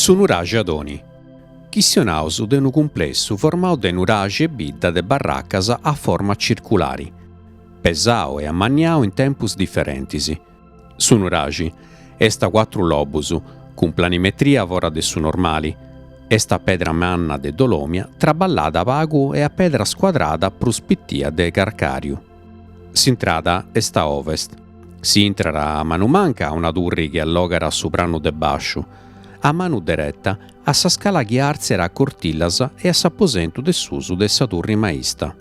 Su nuraxi Adoni. Chistionaus de unu cumplessu formau de nuraxi e bidda de barracas a forma circulari, pesau e amanniau in tempus diferentis, Su nuraxi est a cuatru lobus, cun planimetria fora de su normali, est a pedra manna de dolomia traballada pagu e a pedra scuadrada prus pitia de carcàriu. S'intrada est a ovest. Si intrat a manu manca a una turri chi allogat su pranu de bàsciu, a manu dereta a sa scala chi artziat a cortillas e a s'aposentu de susu de sa turri maista.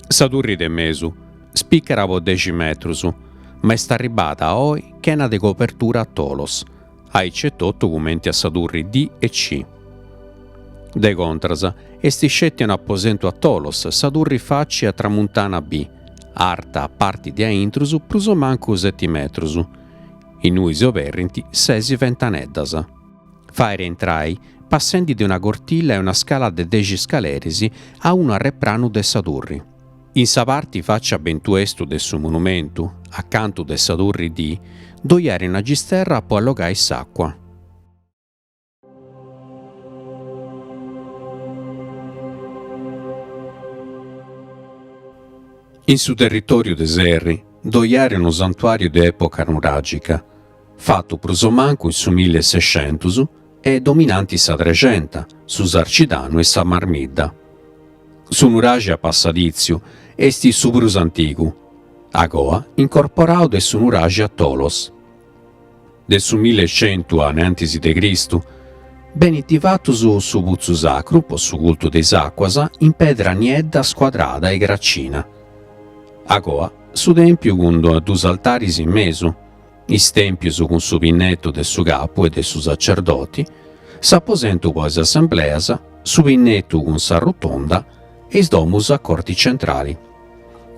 Sa turri de mesu spicat po dexi metrus, ma est arribbada a oi chena de cobertura a tolos, aici e totu cumenti a sa turri D e C. De contras, est sceti un aposentu a tolos sa turri faci a tramuntana B, arta a parti de aintrus prus o mancu seti metrus, innui s'oberrint sesi ventaneddas. Fait intrai, passendi de una cortilla e una scala de dexi scaleris, a unu arrepranu de sa turri. In sa parti faci a bentuestu de su monumentu, acanta de sa turri D ddoi at una gisterra po allogai s'àcua. In su territoriu de Serri ddoi at unu santuàriu de època nuràgica. fatu prus o mancu in su mille e sescentus e dominanti sa Trexenta, su Sarcidanu e sa Marmidda. Su nuraxi a passadìtziu est su prus antigu, agoa incorporadu de su nuraxi a tolos. De su milli e centu innantis de Cristu benint fatus su putzu sacru po su cultu de is àcuas in pedra niedda scuadrada e gracina, agoa su tèmpiu cun duus altaris in mesu. is tèmpius cun su pinnetu de su capu e de su sacerdoti, s'aposentu po is assembleas, su pinnetu cun sa rotonda e is domus a corti centrali.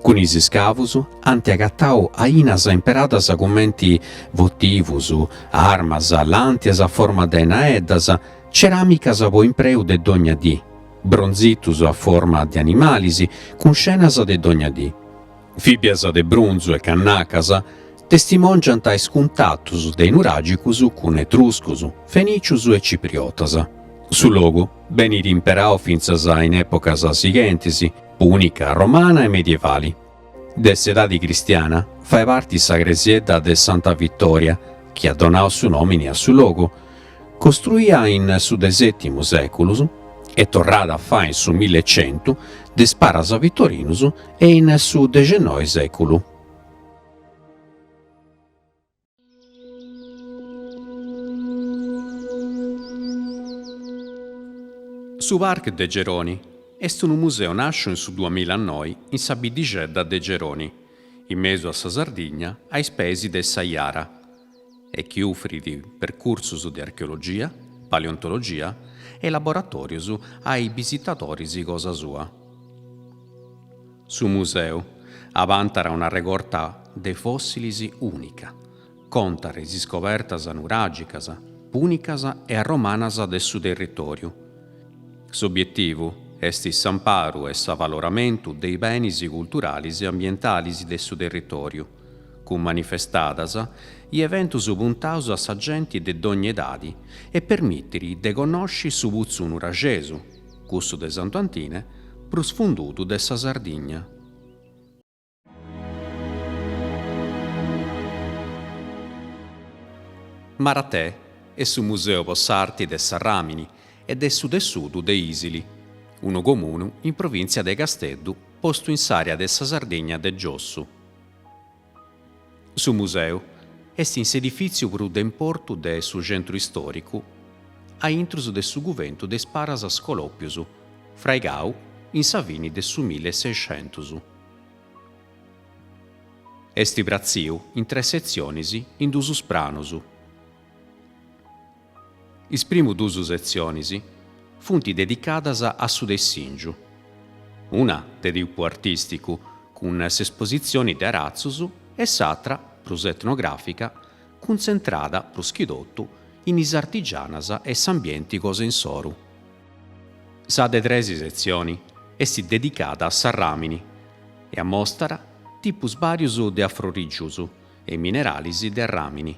Cun is scavus ant agatau ainas imperadas cumenti votivus, armas, làntias a forma de naeddas, ceràmicas po impreu de dogna dì, bronzitus a forma de animalis, cun scenas de dogna dì. Fìbias de brunzu e cannacas testimòngiant is cuntatus de is nuràgicus cun etruscus, fenìcius e cipriotas. Su logu benit imperau fintzas in èpocas sighentis, pùnica, romana e medievali. De s'edadi cristiana fait parti sa cresiedda de Santa Vitòria, chi at donau su nòmini a su logu. Costruia in su de sètimu sèculus e torrada a fai in su mille e centu de is paras Vitorinus e in su dexennoi sèculu. Su Parc de Geroni est unu museu nàsciu in su duamilla noi in sa biddixedda de Geroni, in mesu a sa Sardigna a is peis de sa Jara. e chi ufrit percursus de archeologia, paleontologia e laboratòrius a is bisitadoris cosa sua. Su museu abantat una regorta de fòssilis ùnica, contat is iscobertas nuràgicas, pùnicas e arromanas de su territòriu. S'obietivu est s'amparu e s'avaloramentu de is benis culturalis e ambientalis de su territòriu, cun manifestadas i eventus puntaus a sa genti de dogni edadi e permitit de connosci su putzu nuraxesu, cussu de Santu Antine, prus fundudu de sa Sardigna. Maratè est su Museu po s'Arti de s'Arràmini e de su Tessudu de Isili, unu comunu in provìntzia de Casteddu postu in s'àrea de sa Sardigna de giossu. Su museu est in s'edifìtziu prus de importu de su centru istòricu a intrus de su cuventu de is Paras Scolòpius, fraigau in sa fini de su mille e sexentus. Est pratziu in tres setzionis in duus pranus. Is primu duus setzionis funt dedicadas a su tessìngiu, una de tipu artìsticu cun s'espositzioni de aratzus e s'atra, prus etnogràfica, cuntzentrada prus chi totu in is artigianas e s'ambienti cosa insoru. Sa de tres setzioni est dedicada a s'arràmini e amostat tipus bàrius de afrorìgius e mineralis de arràmini,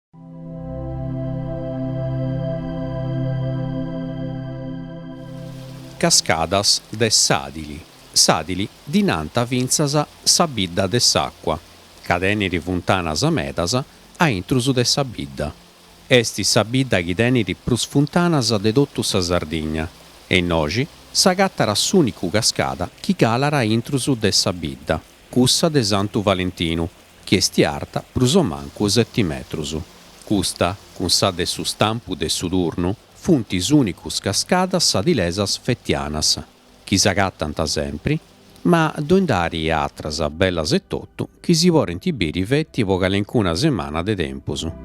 Cascadas de Sàdili. Sàdili ddi nant fintzas sa bidda de s'àcua ca tenit funtanas medas a intrus de sa bidda. Est sa bidda chi tenit prus funtanas de totu sa Sardigna e innoxi s'agatat s'ùnicu cascada chi calat a intrus de sa bidda. Cussa de Santu Valentinu, chi est arta prus o mancu seti metrus. Custa, cun sa de su stampu de su turnu, funt is ùnicus cascadas sadilesas fetianas, chi s'agatant sempri, ma ddoi nd'at atras bellas etotu chi si podint biri feti po calencuna semana de tempus.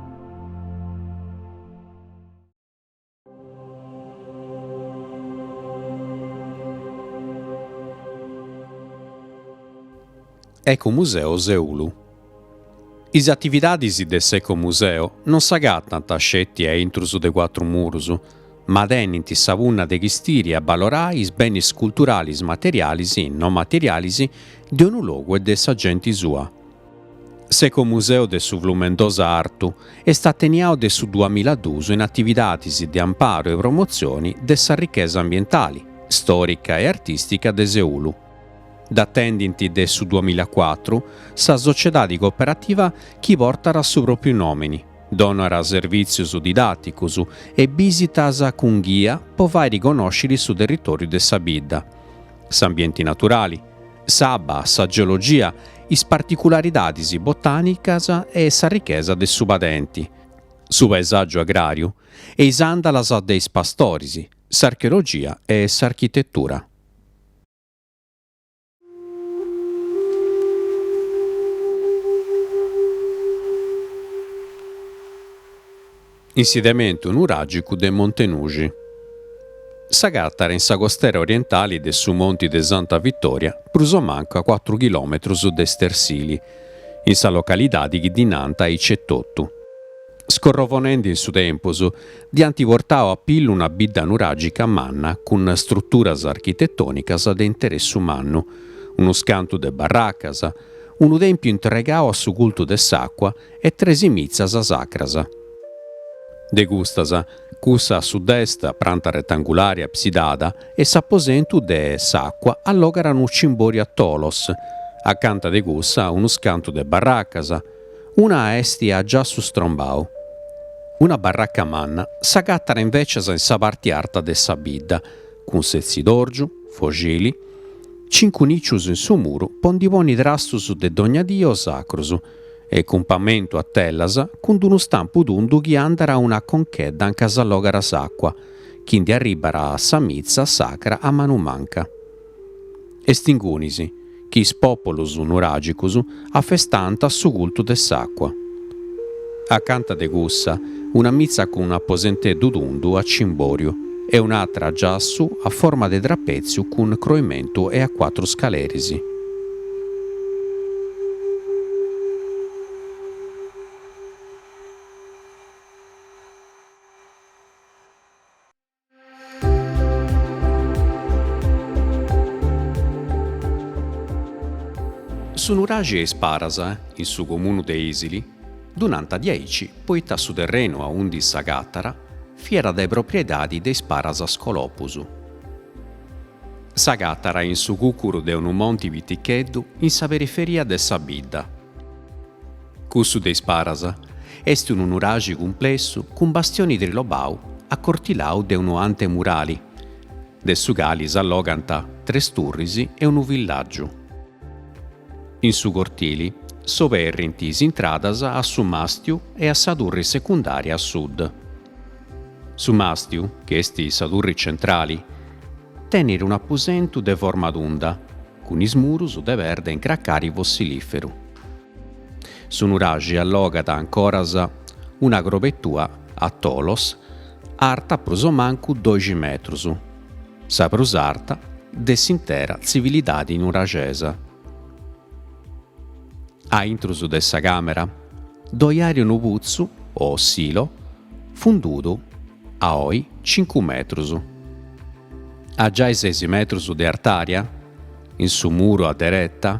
Ecomuseo Seulu Is atividades de s'ecomuseo non s'agatant sceti a intrus de cuatru murus, ma tenint sa punna de chistiri e abalorari is benis culturalis materialis e non materialis de unu logu e de sa genti sua. S'ecomuseu de su Flumendosa Artu est ateniau de su duamilla e duus in atividades de amparu e promotzione de sa richesa ambientali, stòrica e artìstica de Seulu. Dd'atendint de su duamilla e cuatru sa sociedade cooperativa chi portat su pròpriu nòmini, donat servìtzios didàticus e bìsitas cun ghia po fàiri connòscere su territòriu de sa bidda. s'ambienti naturali, s'abba, sa geologia, is particularidadis botànicas e sa richesa de su padenti, su paesàgiu agràriu e is àndalas de is pastoris, s'archeologia e s'architetura. Insediamentu nuràgicu de Monte Nuxi. S'agatat in sa costera orientali de su Monti de Santa Vitòria prus o mancu a cuatru chilòmetrus de Stersili, in sa localidadi chi ddi nant aici etotu. Scorrovonendi in su tempus, ddi ant portau a pillu una bidda nuràgica manna cun struturas architetònicas de interessu mannu, unus cantu de barracas, unu tèmpiu intregau a su cultu de s'àcua e tres mitzas sacras. De custas, cussa a sud-est, a pranta retangulari absidada, e s'aposentu de s'àcua allogat unu cimbòriu a tolos, acanta de cussa unus cantu de barracas, una est a giassu strombau. Una barraca manna s'agatat invècias in sa parti arta de sa bidda, cun setzidòrgiu, foxili, cincu nìcius in su muru po ndi ponni trastus de dogna dì o sacrus, e cun pamentu a tellas, cun d'unu stampu tundu chi andat a una conchedda anca s'allogat s'àcua, chi ndi arribat a sa mitza sacra a manu manca. Est ingunis chi is pòpulus nuragicus afestant su cultu de s'àcua. Acanta de cussa, una mitza cun aposenteddu tundu a cimboriu e un'atra a giassu a forma de trapetziu cun croimentu e a cuatru scaleris. Su nuraxi 'e Is Paras, in su comunu de Isili, ddu nant diaici poita su terrenu a undi s'agatara fiat de propriedadi de is paras Scolopus. S'agatara in su cucuru de unu monti piticheddu in sa periferia de sa bidda. Cussu de Is Paras est unu nuraxi cumplessu cun bastioni trilobau acortilau de unu antemurali, de su cali s'allogant tres turris e unu villàgiu. In su cortili s'oberrint is intradas a su mastiu e a sa turri secundària a sud. Su màstiu, chi est sa turri centrali, tenit un'apusentu de forma tunda, cun is murus de perda in cracari fossilìferu. Su nuraxi allogat ancoras una crobetua a tolos arta prus o mancu doxi metrus, sa prus arta de s'intera tzivilidadi nuraxesa. A intrus de sa càmera ddoi ari unu putzu o silo fundudu a oi cincu metrus, a giai sesi metrus de artària, in su muru a dereta,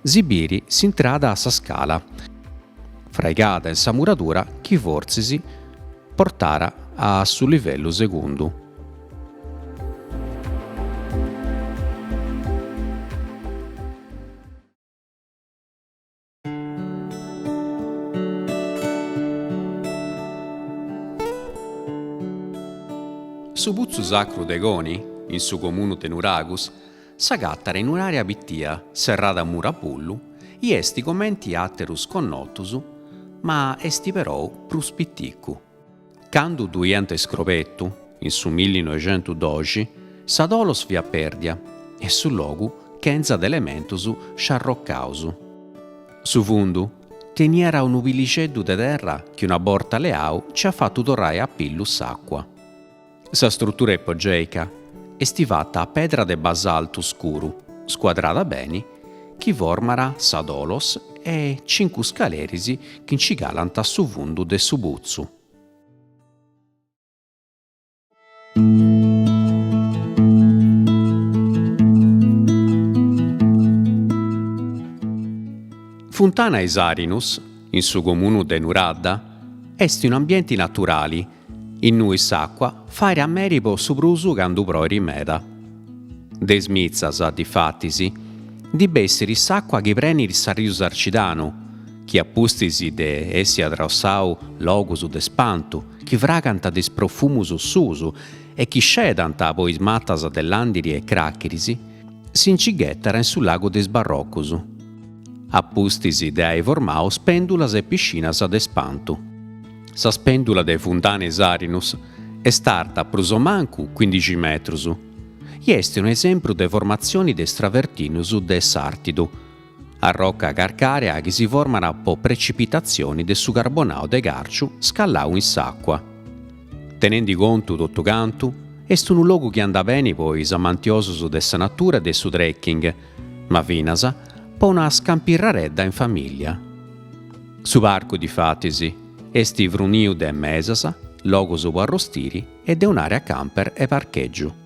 si biri s'intrada a sa scala, fraigada in sa muradura chi fortzis portara a su livellu segundu. Su Putzu Sacru de Coni, in su comunu de Nuragus, s'agatat in un'àrea pitia serrada a muru a bullu i esti comenti àterus connotus ma esti perou prus piticu. Candu ddu iant iscrobetu, in su millinoixentudoxi, sa tolos fiat pèrdia e su logu chentza de elementus sciarrocaus. Su fundu teniat unu pillixeddu de terra chi una borta leau nci at fatu torrai a pillu s'àcua. Sa strutura ipogèica est fata a pedra de basaltu scuru scuadrada beni chi format sa tolos e cincu scaleris chi nci calant a su fundu de su putzu. Funtana Is Arinus, in su comunu de Nuradda, est un'ambienti naturali Innui s'àcua fairi a meri po su prusu candu proiri meda. De is mitzas, difatis, ndi bessiri s'àcua chi preniri s'arriu Sarcidanu, chi a pustis de essi atraossau logus de spantu chi fragant de is profumus suus e chi scedant po is matas de Làndiri e Cràchiris, si nci ghetat in su lagu de is Barrocus, a pustis de ai formau spèndulas e piscinas de spantu. Sa spèndula de Funtana is Arinus est arta prus o mancu cuindixi metrus e est unu esempru de formatzioni de is travertinus de Sàrtidu, arroca carcàrea chi si format po precipitatzioni de su carbonau de càrciu scallau in s'àcua. Tenendi contu totu cantu, est unu logu chi andat beni po is amantiosus de sa natura e de su trekking, ma finas po una scampirradedda in famìllia. Su parcu, difatis, est fruniu de mesas, logus po arrostiri e de un'àrea camper e parchègiu.